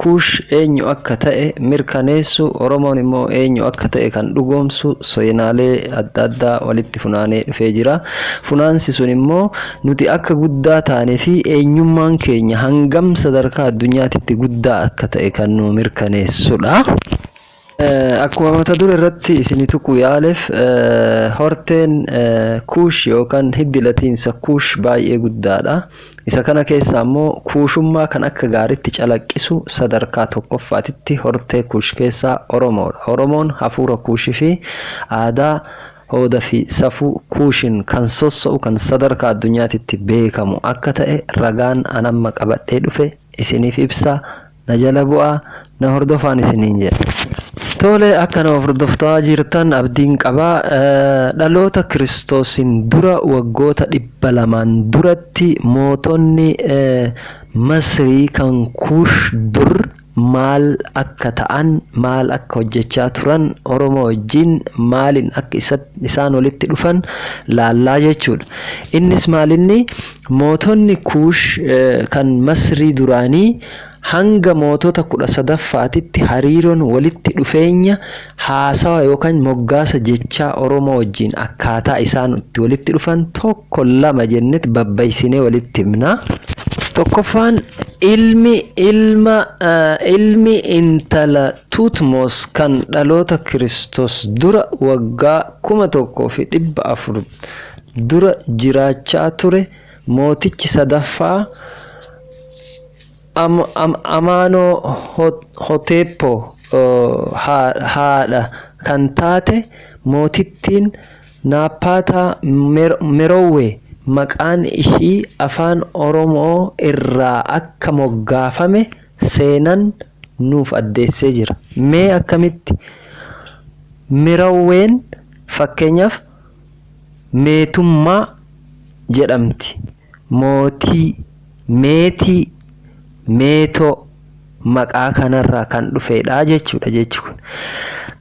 Kuush eenyu akka ta'e mirkaneessu, Oromoon immoo eenyu akka ta'e kan dhugoomsu seenaalee adda addaa walitti funaanee dhufee jira. Funaansi sun immoo nuti akka guddaa taane fi eenyummaan keenya hangam sadarkaa addunyaatitti guddaa akka ta'e kan nuu mirkaneessudha. Akkuma mata dure irratti isini tuquu yaalef horteen Kuush yookan hiddi latiinsa Kuush baay'ee guddaadha. Isa kana keessaa immoo Kuushummaa kan akka gaaritti calaqqisu sadarkaa tokkoffaatitti hortee Kuush keessaa Oromoodha. Oromoon hafuura Kuush fi aadaa, hooda fi safuu Kuushin kan sossa'u kan sadarkaa addunyaatitti beekamu akka ta'e ragaan an amma qabadhee dhufe isiniif ibsa. Na jala bu'aa na hordofaan isiniin jedha. Tole akka na hordoftaa jirtan abdiin qaba. Dhaloota Kiristoosiin dura waggoota dhibba lamaan duratti mootonni Masrii kan Kuush dur maal akka ta'an, maal akka hojjechaa turan, Oromoo wajjin maaliin akka isaan walitti dhufan laallaa jechuudha. Innis maalinni Mootonni Kuush kan Masrii duraanii hanga mootota 13ffaatitti hariiroon walitti dhufeenya haasawa yookaan moggaasa jechaa Oromoo wajjin akkaataa isaan itti walitti dhufan tokko lama jennet babbaysinee walitti himna. Tokkoffaan ilmi ilma ilmi intala Tuutmos kan dhaloota Kiristoos dura waggaa 1400 dura jiraachaa ture mootichi sadaffaa Amaanoohoteep haadha kan taate mootittiin Naappaataa Merowwee maqaan ishii Afaan Oromoo irraa akka moggaafame seenan nuuf addeessee jira. Mee akkamitti? Merowween fakkeenyaaf. Meetummaa jedhamti. Mootii, meetii, meetoo maqaa kanarraa kan dhufeedha jechuudha jechi kun.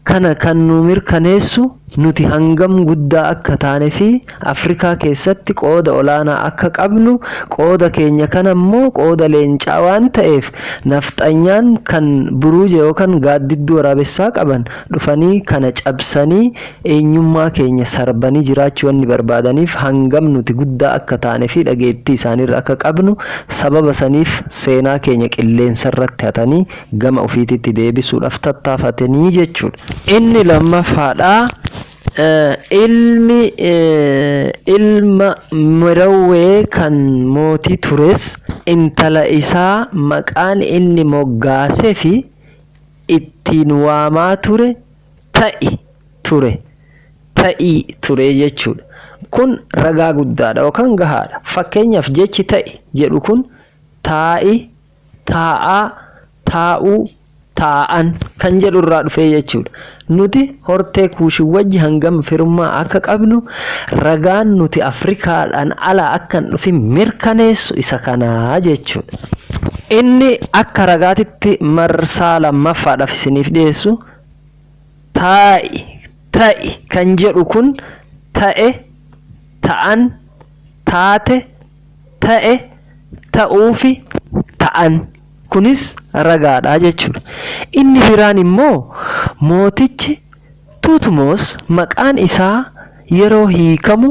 Kana kan nuu mirkaneessu nuti hangam guddaa akka taanefi Afrikaa keessatti qooda olaanaa akka qabnu qooda keenya kana immoo qooda leencaa waan ta'eef nafxanyaan kan buruuja yookan gaaddidduu waraabessaa qaban dhufanii kana cabsanii eenyummaa keenya sarbanii jiraachuu wanni barbaadaniif hangam nuti guddaa akka taane fi dhageettii isaaniirra akka qabnu sababa saniif seenaa keenya qilleensarratti hatanii gama ufiititti deebisuudhaaf tattaafatanii jechuudha. Inni lammaffaadha, ilmi ilma Merawwee kan mootii tures intala isaa maqaan inni moggaasefi ittiin waamaa ture, ta'i, ture, ta'i, turee jechuudha. Kun ragaa guddaadha yookaan gahaadha. Fakkeenyaaf jechi ta'i jedhu kun taa'i, taa'aa, taa'uu, taa'an kan jedhu irraa dhufee jechuudha. Nuti hortee Kuushin wajji hangam firummaa akka qabnu ragaan nuti Afrikaadhaan alaa akka hin dhufin mirkaneessu isa kana jechuudha. Inni akka ragaatitti marsaa lammaffaadhaaf isiniif dhiyeessu taa'i, ta'i kan jedhu kun ta'e, ta'an, taate, ta'e, ta'uufi ta'an kunis ragaadha jechuudha. Inni biraan immoo mootichi Tuutmoos maqaan isaa yeroo hiikamu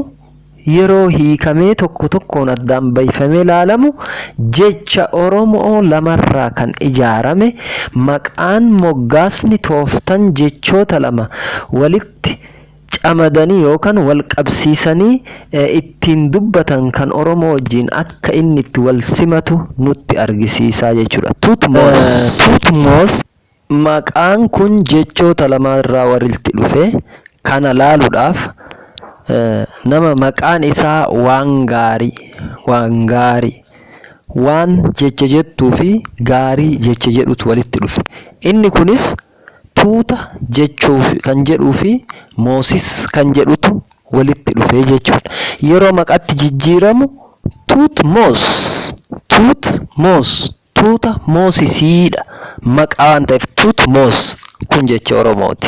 Yeroo hiikamee tokko tokkoon addaan bayfamee laalamu jecha Oromo'oo lamarraa kan ijaarame maqaan, moggaasni, tooftan jechoota lama walitti camadanii yookan wal qabsiisanii ittiin dubbatan kan Oromoo wajjiin akka inni itti wal simatu nutti argisiisa jechuudha. Tuutmoos. Tuutmoos Maqaan kun jechoota lamaa irraa walitti dhufe. Kana laaluudhaaf nama maqaan isaa waan gaarii, waan gaarii, waan jecha jettuu fi gaarii jecha jedhutu walitti dhufe. Inni kunis tuuta jechuuf kan jedhuu fi moosis kan jedhutu walitti dhufe jechuudha. Yeroo maqatti jijjiiramu tuut moos, tuut moos Tuuta moosisiidha. Maqaa waan ta'eef Tutmos kun jecha Oromooti.